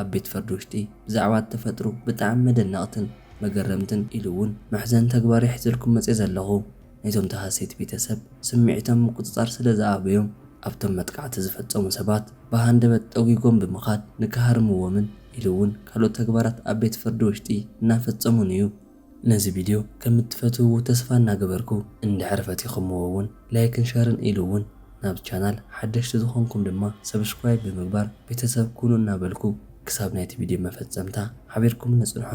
ኣብ ቤት ፈርዲ ውሽጢ ብዛዕባ እተፈጥሩ ብጣዕሚ መደነቕትን መገረምትን ኢሉ እውን መሕዘኒ ተግባር እየ ሒዘልኩም መፅየ ዘለኹ። ናይቶም ተሃሰይቲ ቤተሰብ ስምዒቶም ምቁፅፃር ስለ ዝኣበዮም ኣብቶም መጥቓዕቲ ዝፈፀሙ ሰባት ብሃንደበት ጠጒጎም ብምኻድ ንክሃርምዎምን ኢሉ እውን ካልኦት ተግባራት ኣብ ቤት ፈርዲ ውሽጢ እናፈፀሙን እዩ። ነዚ ቪድዮ ከም እትፈትውዎ ተስፋ እናገበርኩ እንድሕር ፈቲኹምዎ እውን ላይክን ሸርን ኢሉ እውን ናብዚ ቻናል ሓደሽቲ ዝኾንኩም ድማ ሰብስክራይብ ብምግባር ቤተሰብ ኩኑ እናበልኩ ክሳብ ናይቲ ቪድዮ መፈፀምታ ሓቢርኩምኒ ፅንሑ።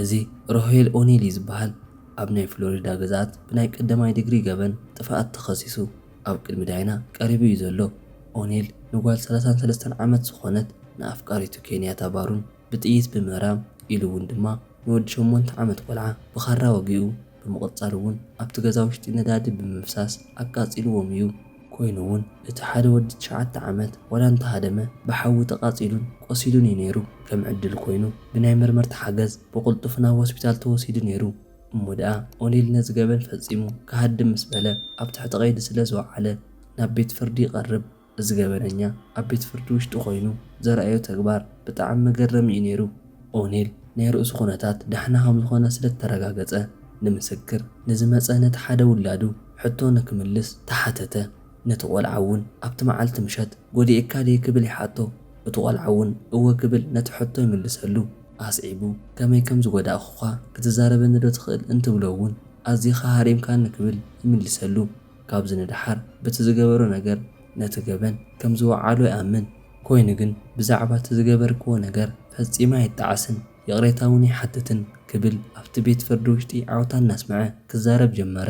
እዚ ሮሄል ኦኔሊ ዝበሃል ኣብ ናይ ፍሎሪዳ ግዝኣት ብናይ ቀዳማይ ድግሪ ገበን ጥፍኣት ተኸሲሱ፣ ኣብ ቅድሚ ዳይና ቀሪቡ እዩ ዘሎ። ኦኔል ንጓል ሰላሳን ሰለስተን ዓመት ዝኾነት ንኣፍቃሪቱ ኬንያታ ባሩን ብጥይት ብምእራም ኢሉ እውን ድማ ንወዲ ሸሞንተ ዓመት ቆልዓ ብኻራ ወጊኡ ብምቕፃል እውን ኣብቲ ገዛ ውሽጢ ነዳዲ ብምፍሳስ ኣቃፂልዎም እዩ። ኮይኑ እውን እቲ ሓደ ወዲ ትሽዓተ ዓመት ዋላ እንተሃደመ ብሓዊ ተቓፂሉን ቆሲሉን እዩ ነይሩ። ከም ዕድል ኮይኑ ብናይ መርመርቲ ሓገዝ ብቕልጡፍ ናብ ሆስፒታል ተወሲዱ ነይሩ። እሞ ደኣ ኦኔል ነዚ ገበን ፈጺሙ ክሃድም ምስ በለ ኣብ ትሕቲ ቀይዲ ስለ ዝወዓለ ናብ ቤት ፍርዲ ይቐርብ። እዚ ገበነኛ ኣብ ቤት ፍርዲ ውሽጢ ኮይኑ ዘርኣዮ ተግባር ብጣዕሚ መገረሚ እዩ ነይሩ። ኦኔል ናይ ርእሱ ኩነታት ዳሕና ከም ዝኾነ ስለ እተረጋገጸ ንምስክር ንዝመጸ ነቲ ሓደ ውላዱ ሕቶ ንክምልስ ተሓተተ። ነቲ ቆልዓ እውን ኣብቲ መዓልቲ ምሸት ጎዲኤካ ድየ ክብል ይሓቶ። እቲ ቆልዓ እውን እወ ክብል ነቲ ሕቶ ይምልሰሉ። ኣስዒቡ ከመይ ከም ዝጎዳእኩኻ ክትዛረበኒዶ ትኽእል እንትብሎ እውን ኣዚኻ ሃሪምካኒ ክብል ይምልሰሉ። ካብዚ ንደሓር በቲ ዝገበሮ ነገር ነቲ ገበን ከም ዝወዓሎ ይኣምን። ኮይኑ ግን ብዛዕባ እቲ ዝገበርክዎ ነገር ፈጺመ ኣይጣዓስን ይቕሬታ እውን ኣይሓትትን ክብል ኣብቲ ቤት ፍርዲ ውሽጢ ዓውታ እናስመዐ ክዛረብ ጀመረ።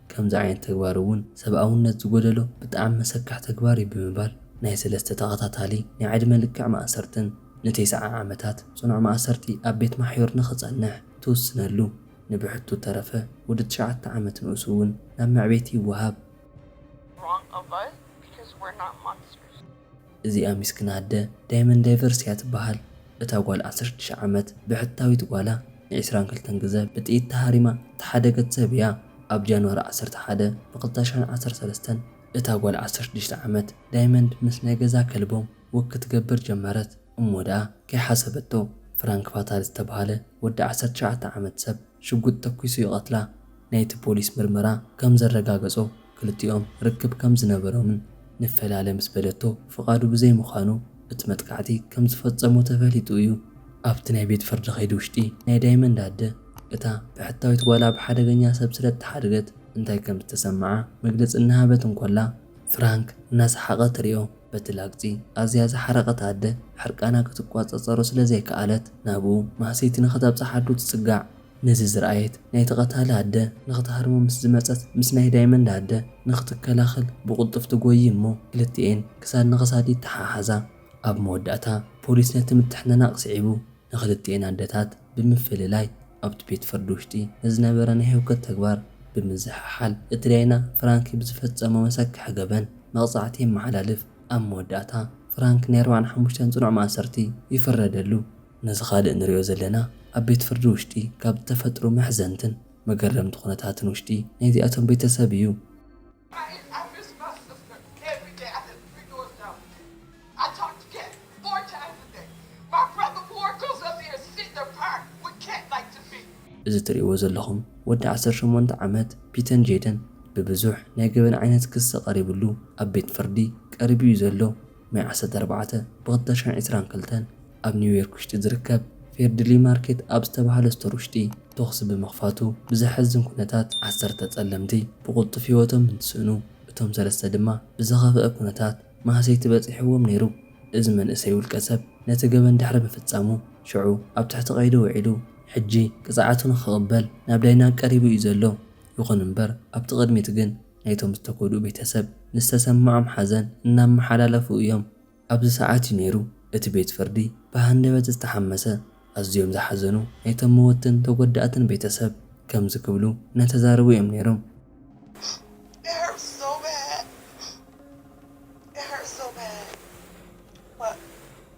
ከምዚ ዓይነት ተግባር እውን ሰብኣውነት ዝጎደሎ ብጣዕሚ መሰካሕ ተግባር እዩ ብምባል ናይ ሰለስተ ተኸታታሊ ናይ ዕድመ ልክዕ ማእሰርትን ንቴስዓ ዓመታት ፅኑዕ ማእሰርቲ ኣብ ቤት ማሕዩር ንኽፀንሕ ትውስነሉ ንብሕቱ እተረፈ ወዲ ትሽዓተ ዓመት ንኡስ እውን ናብ መዕቤቲ ይወሃብ። wrong of us because we're not monsters። እዚኣ ሚስክና ኣደ ዳይመን ዳይቨርስ እያ ትበሃል። እታ ጓል ዓሰርተ ሽዱሽተ ዓመት ብሕታዊት ጓላ ን ዕስራን ክልተን ግዘ ብጥይት ተሃሪማ እተሓደገት ሰብ እያ። ኣብ ጃንዋሪ ዓሰርተ ሓደ ብ ክልተ ሽሕን ዓሰርተ ሰለስተን እታ ጓል ዓሰርተ ሽዱሽተ ዓመት ዳይመንድ ምስ ናይ ገዛ ከልቦም ወክ ክትገብር ጀመረት እሞ ደኣ ከይሓሰበቶ ፍራንክ ፋታል ዝተበሃለ ወዲ ዓሰርተ ትሽዓተ ዓመት ሰብ ሽጉጥ ተኲሱ ይቐትላ። ናይቲ ፖሊስ ምርመራ ከም ዘረጋገጾ ክልቲኦም ርክብ ከም ዝነበሮምን ንፈላለ ምስ በለቶ ፍቓዱ ብዘይምዃኑ እቲ መጥቃዕቲ ከም ዝፈጸሞ ተፈሊጡ እዩ። ኣብቲ ናይ ቤት ፍርዲ ከይዲ ውሽጢ ናይ ዳይመንድ ኣደ እታ ብሕታዊት ጓላ ብሓደገኛ ሰብ ስለ እተሓድገት እንታይ ከም ዝተሰመዓ መግለጺ እናሃበት እንኮላ ፍራንክ እናሰሓቐ ትሪኦ። በቲ ላግጺ ኣዝያ ዝሓረቐት ኣደ ሕርቃና ክትቋጸጸሮ ስለ ዘይከኣለት ናብኡ ማህሰይቲ ንኽተብጽሕ ኣዱ ትጽጋዕ። ነዚ ዝረኣየት ናይቲ ቀታሊ ኣደ ንኽትሃርሞ ምስ ዝመጸት ምስ ናይ ዳይመንድ ኣደ ንኽትከላኸል ብቕልጡፍ ትጎዪ እሞ ክልቲኤን ክሳድ ንኽሳድ ይተሓሓዛ። ኣብ መወዳእታ ፖሊስ ነቲ ምትሕንናቕ ስዒቡ ንክልቲኤን ኣደታት ብምፍልላይ ኣብቲ ቤት ፍርዲ ውሽጢ ንዝነበረ ናይ ህውከት ተግባር ብምዝሕሓል እቲ ዳይና ፍራንኪ ብዝፈፀሞ መሰክሒ ገበን መቕፃዕቲ የመሓላልፍ። ኣብ መወዳእታ ፍራንኪ ናይ ኣርባዕን ሓሙሽተን ፅኑዕ ማእሰርቲ ይፍረደሉ። ነዚ ካልእ ንሪኦ ዘለና ኣብ ቤት ፍርዲ ውሽጢ ካብ ዝተፈጥሩ መሕዘንትን መገረምቲ ኩነታትን ውሽጢ ናይዚኣቶም ቤተሰብ እዩ። እዚ እትርእይዎ ዘለኹም ወዲ ዓሰርተ ሸሞንተ ዓመት ፒተን ጄደን ብብዙሕ ናይ ገበን ዓይነት ክሲ ቀሪብሉ ኣብ ቤት ፍርዲ ቀሪቡ እዩ ዘሎ። ማይ ዓሰርተ ኣርባዕተ ብክልተ ሽሕን ዕስራን ክልተን ኣብ ኒውዮርክ ውሽጢ ዝርከብ ፌርድሊ ማርኬት ኣብ ዝተብሃለ ስቶር ውሽጢ ቶኽሲ ብምኽፋቱ ብዘሐዝን ኩነታት ዓሰርተ ፀለምቲ ብቁልጡፍ ህይወቶም እንትስእኑ እቶም ሰለስተ ድማ ብዝኸፈኣ ኩነታት ማህሰይቲ በፂሕዎም ነይሩ። እዚ መንእሰይ ውልቀ ሰብ ነቲ ገበን ድሕሪ ምፍፃሙ ሽዑ ኣብ ትሕቲ ቀይዲ ውዒሉ ሕጂ ቅፅዓቱ ንክቕበል ናብ ዳይና ቀሪቡ እዩ ዘሎ። ይኹን እምበር ኣብቲ ቅድሚት ግን ናይቶም ዝተጎድኡ ቤተሰብ ንዝተሰመዖም ሓዘን እናመሓላለፉ እዮም። ኣብዚ ሰዓት እዩ ነይሩ እቲ ቤት ፍርዲ ብሃንደበት ዝተሓመሰ። ኣዝዮም ዝሓዘኑ ናይቶም መወትን ተጎዳእትን ቤተሰብ ከምዚ ክብሉ እናተዛረቡ እዮም ነይሮም።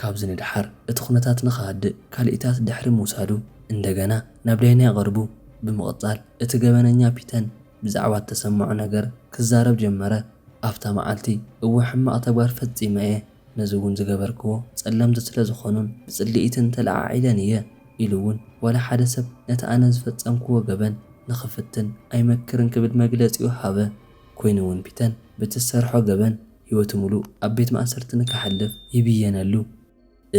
ካብዚ ንደሓር እቲ ኩነታት ንክሃድእ ካልኢታት ድሕሪ ምውሳዱ እንደገና ናብ ዳይና ይቐርቡ። ብምቕጻል እቲ ገበነኛ ፒተን ብዛዕባ እተሰመዖ ነገር ክዛረብ ጀመረ፣ ኣብታ መዓልቲ እወ ሕማቕ ተግባር ፈጺመ እየ። ነዚ እውን ዝገበርክዎ ጸለምቲ ስለ ዝኾኑን ብጽልኢትን ተለዓዒለን እየ ኢሉ እውን ዋላ ሓደ ሰብ ነቲ ኣነ ዝፈጸምክዎ ገበን ንኽፍትን ኣይመክርን ክብል መግለጺኡ ሃበ። ኮይኑ እውን ፒተን ብቲ ዝሰርሖ ገበን ህይወቱ ምሉእ ኣብ ቤት ማእሰርቲ ንከሕልፍ ይብየነሉ።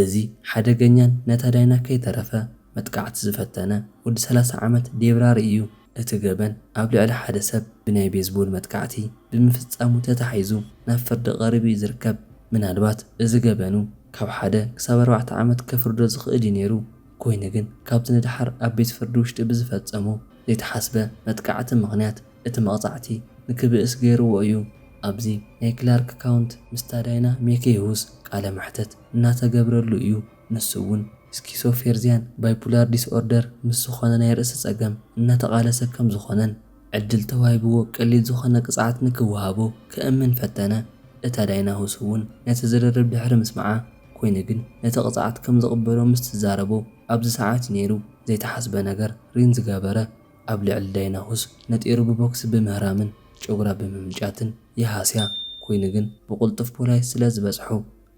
እዚ ሓደገኛን ነታ ዳይና ከይተረፈ መጥቃዕቲ ዝፈተነ ወዲ ሰላሳ ዓመት ዴብራሪ እዩ። እቲ ገበን ኣብ ልዕሊ ሓደ ሰብ ብናይ ቤዝቦል መጥቃዕቲ ብምፍጻሙ ተታሒዙ ናብ ፍርዲ ቀሪቡ እዩ ዝርከብ። ምናልባት እዚ ገበኑ ካብ ሓደ ክሳብ ኣርባዕተ ዓመት ከፍርዶ ዝኽእል እዩ ነይሩ፣ ኮይኑ ግን ካብዚ ንደሓር ኣብ ቤት ፍርዲ ውሽጢ ብዝፈጸሞ ዘይተሓስበ መጥቃዕቲ ምኽንያት እቲ መቕጻዕቲ ንክብእስ ገይርዎ እዩ። ኣብዚ ናይ ክላርክ ካውንት ምስ ዳዳይና ሜኬይሁስ ቃለ መሕተት እናተገብረሉ እዩ። ንሱ እውን ስኪሶፌርዚያን ባይፑላር ዲስኦርደር ምስ ዝኾነ ናይ ርእሲ ጸገም እናተቓለሰ ከም ዝኾነን ዕድል ተዋሂብዎ ቀሊል ዝኾነ ቅጽዓት ንክወሃቦ ከእምን ፈተነ። እታ ዳይና ሁስ እውን ነቲ ዝርርብ ድሕሪ ምስምዓ ኮይኑ ግን ነቲ ቅጽዓት ከም ዝቕበሎ ምስ ትዛረቦ ኣብዚ ሰዓት እዩ ነይሩ ዘይተሓስበ ነገር ሪን ዝገበረ ኣብ ልዕሊ ዳይና ሁስ ነጢሩ ብቦክሲ ብምህራምን ጨጉራ ብምምጫትን ይሃስያ ኮይኑ ግን ብቕልጡፍ ፖላይስ ስለ ዝበጽሑ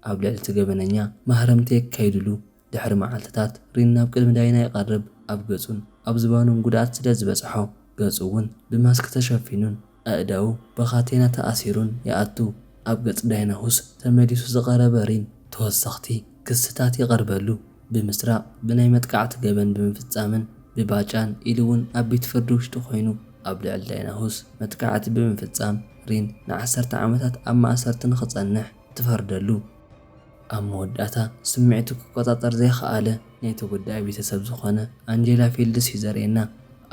ኣብ ልዕሊ'ቲ ገበነኛ ማህረምቲ የካይዱሉ። ድሕሪ መዓልትታት ሪን ናብ ቅድሚ ዳይና ይቐርብ። ኣብ ገጹን ኣብ ዝባኑን ጉድኣት ስለ ዝበጽሖ፣ ገጹ'ውን ብማስክ ተሸፊኑን ኣእዳዉ ብካቴና ተኣሲሩን ይኣቱ። ኣብ ገጽ ዳይና ሁስ ተመሊሱ ዝቐረበ ሪን፣ ተወሰኽቲ ክስታት ይቐርበሉ። ብምስራቕ፣ ብናይ መጥቃዕቲ ገበን ብምፍጻምን ብባጫን ኢሉ'ውን ኣብ ቤት ፍርዲ ውሽጢ ኮይኑ ኣብ ልዕሊ ዳይና ሁስ መጥቃዕቲ ብምፍጻም ሪን ንዓሰርተ ዓመታት ኣብ ማእሰርቲ ንኽጸንሕ ትፈርደሉ። ኣብ መወዳእታ፣ ስምዒቱ ክቆጻጸር ዘይኸኣለ ናይ ተጎዳኢ ቤተሰብ ዝኾነ ኣንጀላ ፊልድስ እዩ ዘርእየና።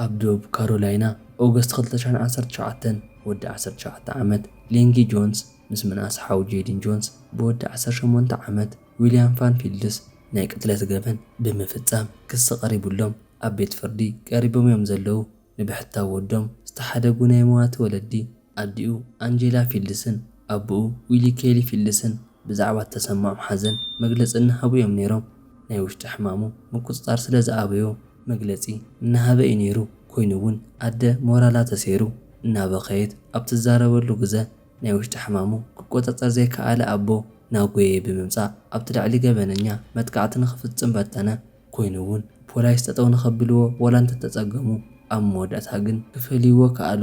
ኣብ ደቡብ ካሮላይና፣ ኦገስት ክልተ ሽሕን ዓሰርተ ሸውዓተን፣ ወዲ ዓሰርተ ሸውዓተ ዓመት ሌንጊ ጆንስ ምስ ምንኣስ ሓው ጄዲን ጆንስ ብወዲ ዓሰርተ ሸሞንተ ዓመት ዊልያም ፋን ፊልድስ ናይ ቅትለት ገበን ብምፍጻም ክሲ ቀሪቡሎም ኣብ ቤት ፍርዲ ቀሪቦም እዮም ዘለዉ። ንብሕታዊ ወዶም ዝተሓደጉ ናይ መዋቲ ወለዲ፣ ኣዲኡ ኣንጀላ ፊልድስን ኣቡኡ ዊሊ ኬሊ ፊልድስን ብዛዕባ እተሰምዖም ሓዘን መግለጺ እናሃቡ እዮም ነይሮም። ናይ ውሽጢ ሕማሙ ምቁጽጻር ስለ ዝኣበዮ መግለጺ እናሃበ እዩ ነይሩ፣ ኮይኑ እውን ኣደ ሞራላ ተሰይሩ እናበኸየት ኣብ ትዛረበሉ ግዘ ናይ ውሽጢ ሕማሙ ክቆጻጸር ዘይከኣለ ኣቦ ናጎየይ ብምምጻእ ኣብቲ ልዕሊ ገበነኛ መጥቃዕቲ ንኽፍጽም በርተነ። ኮይኑ እውን ፖላይስ ጠጠው ንኸብልዎ ዋላ እንተተፀገሙ ኣብ መወዳእታ ግን ክፈልይዎ ከኣሉ።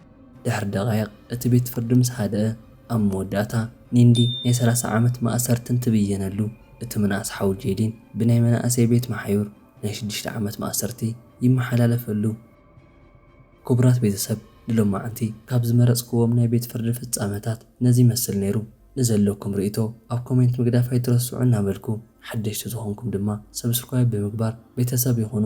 ድሕሪ ደቓይቕ እቲ ቤት ፍርዲ ምስ ሃደኣ፣ ኣብ መወዳእታ ኒንዲ ናይ ሰላሳ ዓመት ማእሰርቲ እንትብየነሉ፣ እቲ ምንኣስ ሓው ጄዲን ብናይ መናእሰይ ቤት መሓዩር ናይ ሽዱሽተ ዓመት ማእሰርቲ ይመሓላለፈሉ። ክቡራት ቤተሰብ ንሎማዕንቲ ካብ ዝመረጽክዎም ናይ ቤት ፍርዲ ፍጻመታት ነዚ ይመስል ነይሩ። ንዘለኩም ርኢቶ ኣብ ኮሜንት ምግዳፍ ኣይትረስዑ እናበልኩ ሓደሽቲ ዝኾንኩም ድማ ሰብስክራይብ ብምግባር ቤተሰብ ይኹኑ።